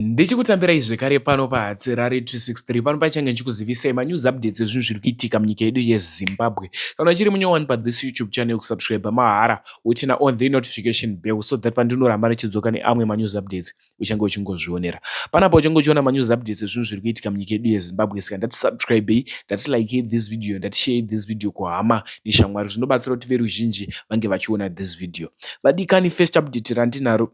Ndichikutambirai zvekare pano paHatsirari 263 pano pachange ndichikuzivisai manews updates ezvinhu zviri kuitika munyika yedu yeZimbabwe. Kana uchiri munyowani pathis YouTube channel kusubscribe mahara wotina on the notification bell so that pandinoramba ndichidzoka neamwe manews updates uchange uchingozvionera. Panapa uchange uchiona manews updates ezvinhu zviri kuitika munyika yedu yeZimbabwe saka ndati subscribei, ndati likei this video, ndati sharei this video kuhama neshamwari zvinobatsira kuti veruzhinji vange vachiona this video. Vadikani first update randinaro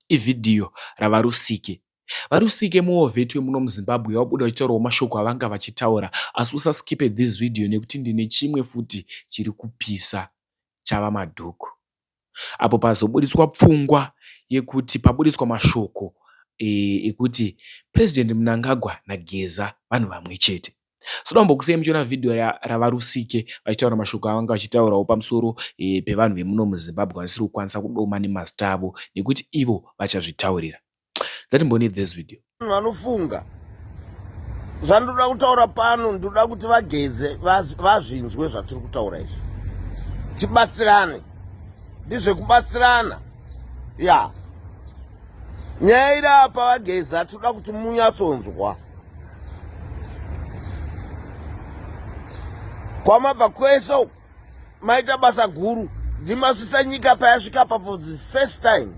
Ivhidhiyo raVaRusike. VaRusike muwo vethu wemuno muZimbabwe wabuda uchitaurawo mashoko avanga vachitaura asi usa skipe this video nekuti ndine chimwe futi chiri kupisa chava madhuku apo pazobuditswa pfungwa yekuti pabuditswa mashoko ekuti President Mnangagwa naGeza vanhu vamwe chete. Sinoda kumbokusei muchiona vhidhiyo raVaRusike vachitaura mashoko avanga vachitaurawo pamusoro eh, pevanhu vemuno muZimbabwe vanisiri kukwanisa kudoma nemazita avo nekuti ivo vachazvitaurira. Ngatimbone this video. Vanofunga zvandinoda kutaura pano ndinoda kuti vageze vazvinzwe zvatiri kutaura izvi tibatsirane ndizvekubatsirana ya nyaya iri apa vageza tinoda kuti munyatsonzwa kwamabva kwese uku maita basa guru ndimasvisa nyika payasvika pa for the first time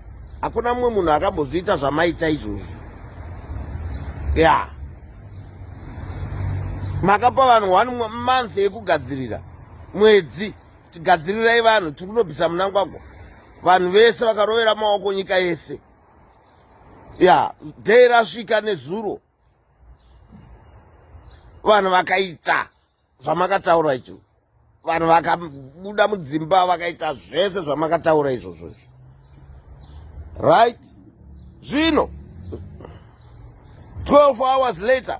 hakuna mumwe munhu akambozviita zvamaita izvozvo ya yeah. makapa vanhu one month yekugadzirira mwedzi tigadzirirai vanhu tiri kunobvisa munangwagwa vanhu vese vakarovera maoko nyika yese ya dei rasvika nezuro vanhu vakaita zvamakataura icho vanhu vakabuda mudzimba vakaita zvese zvamakataura izvozvo izvo right zvino 12 hours later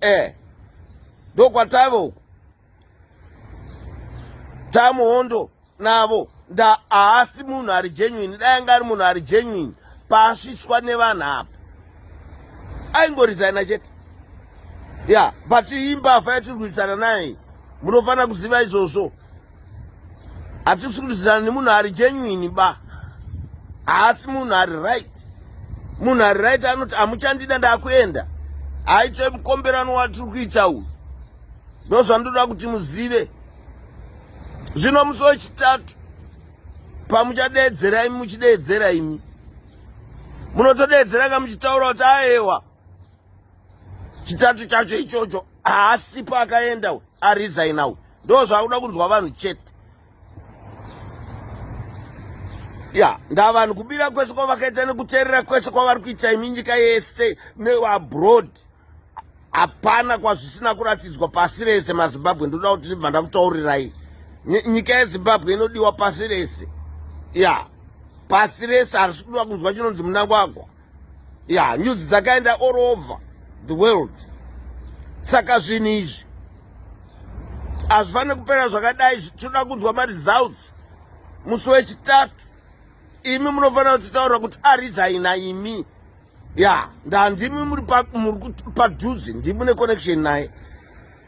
eh ndokwatave uku tamuhondo navo nda haasi munhu ari genuine dai anga ari munhu ari genuine paasviswa nevanhu apa aingoresigna chete ya but imbavha yatiri kuisana naye munofanira kuziva izvozvo hatisi kurwisana nemunhu ari genuine ba haasi munhu ari right munhu ari right anoti amuchandida ndakuenda haitoi mukomberano watiri kuita uyu ndo zvandoda kuti muzive zvino musi wechitatu pamuchadeedzera imi muchideedzera imi munotodeedzera ka muchitaura kuti aewa chitatu chacho ichocho haasi paakaenda we arizaina we ndo zvaakuda kunzwa vanhu chete ya ndavanhu kubira kwese kwavakaita nekuteerera kwese kwavari kuita imi nyika yese neabroad hapana kwazvisina kuratidzwa pasi rese mazimbabwe ndoda kuti ndibva ndakutaurirai nyika yezimbabwe inodiwa pasi rese ya pasi rese harisi kudiwa kunzwa chinonzi munangwagwa ya nyudzi dzakaenda all over the world saka zvinhu izvi hazvifanire kupera zvakadai tinoda kunzwa maresults musi wechitatu imi munofanira kutitaurira kuti arizaina imi ya ndandimi muri padhuze ndimi neconnection naye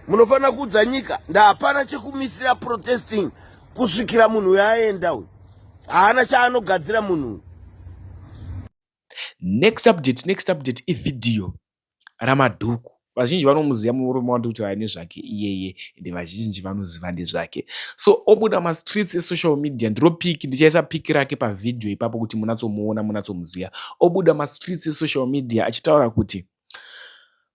munofanira kuudza nyika ndahapana chekumisira protesting kusvikira munhu uyo aenda uyu haana chaanogadzira munhu next update next update ivhidhiyo ramadhuku vazhinji vanomuziva murume wandi kuti aine zvake iyeye ende vazhinji vanoziva ndezvake so obuda mastreets esocial media ndiro piki ndichaisa piki rake pavhidhiyo ipapo kuti munatsomuona munatsomuziva obuda mastreets esocial media achitaura kuti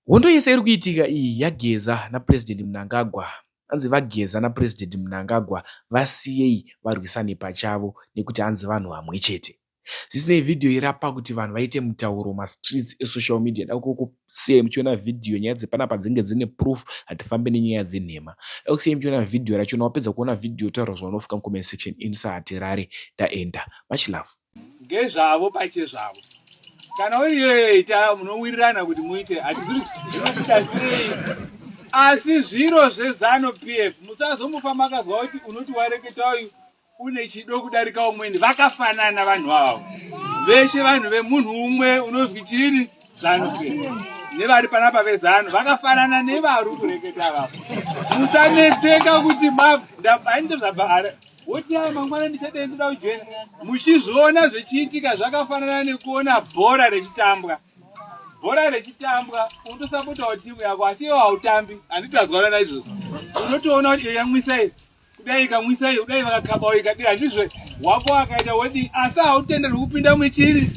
Hondo yese iri kuitika iyi yageza naPresident Mnangagwa. Hanzi vageza naPresident Mnangagwa vasiyei varwisane pachavo nekuti hanzi vanhu vamwe chete. Zvisinei video irapa kuti vanhu vaite mutauro mastreets esocial media dakuko sei muchiona video nyaya dzepanapa dzinge dzine proof hatifambe nenyaya dzenhema dakusei muchiona video rachona wapedza kuona video taura zvaunofika mucomment section ini sahatirare taenda much love ngezvavo pachezvavo kana uyoita munowirirana kuti muite hatiziri zvinokuda sei asi zviro zvezano p f musazomufa makazwa kuti unoti wareketa uyu une chido kudarika umweni vakafanana vanhu avo veshe vanhu vemunhu umwe unozwi chini zano p f nevari panapa vezano vakafanana nevari kureketa vavo musanetseka kuti bab ndainda zvabva wotiai mangwana ndichadei ndoda kujoina muchizviona zvichiitika zvakafanana nekuona bhora rechitambwa bhora rechitambwa unotosapotawo timu yako asi iwo hautambi handitazwana naizvozvo unotoona kuti yamwisa iyi kudai ikamwisa iyi kudai vakakhabawo ikadira ndizve wako akaita wodii asi hautenderwi kupinda muchiri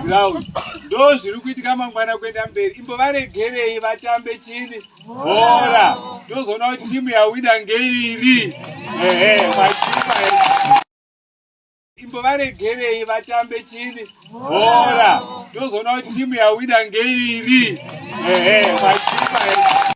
ground ndo zviri kuitika mangwana kuenda mberi imbovaregerei vatambe chini bhora tozoona kuti timu yawina ngeiri ehe machuma imbovaregerei vatambe chini bhora tozoona kuti timu yawina ngeiri ehe machuma